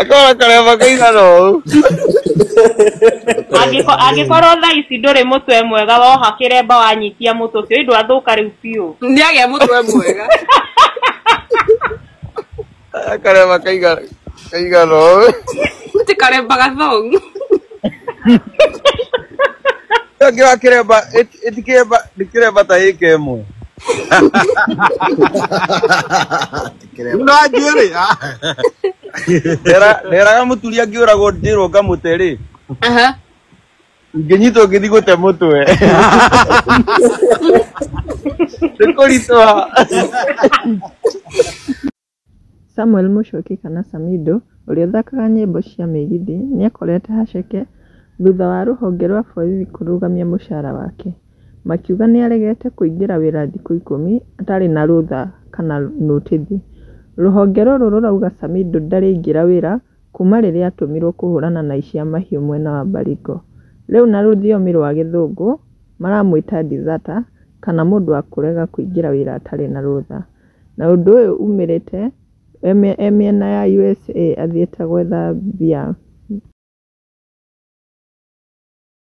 Akora kare makaina no. Angĩkorwo thaa ici ndũrĩ mũtwe mwega woha kĩremba wanyitia mũtwe ũcio ĩndũ athũka rĩu biũ. Nĩagĩa mũtwe mwega. Kare makaiga kaiga no. Ti karemba gathongu. Kĩremba kĩremba ĩti kĩremba kĩremba ta ĩka ĩmwe. na njwĩrĩ nderaga mũturia ngĩũragwo ndĩrwo ngamũte rĩ Aha. ingĩnyitwo ngĩthiĩ gũte mũtwe nĩ kũritũha Samuel Mũchoki kana Samido, ũrĩa ũthakaga nyĩmbo cia mĩgithi, nĩakorete haceke thutha wa rũhonge rwa borithi kũrũgamia mũcara wake. makiuga nĩ aregete kũingĩra wĩra thikũ ikũmi atarĩ na rũtha kana nũtithi. Rũhonge rũrũ rũrauga Samido ndarĩingĩra wĩra kuma rĩrĩa atũmirwo kũhũrana na aici a mahiũ mwena wa Baringo. Rĩu na rũthiomi rwa gĩthũngũ maramwĩta deserter kana mũndũ wa kũrega kũingĩra wĩra atarĩ na rũtha. Na ũndũ ũyũ umĩrĩte e mĩena ya usa athiĩte gwetha mbia.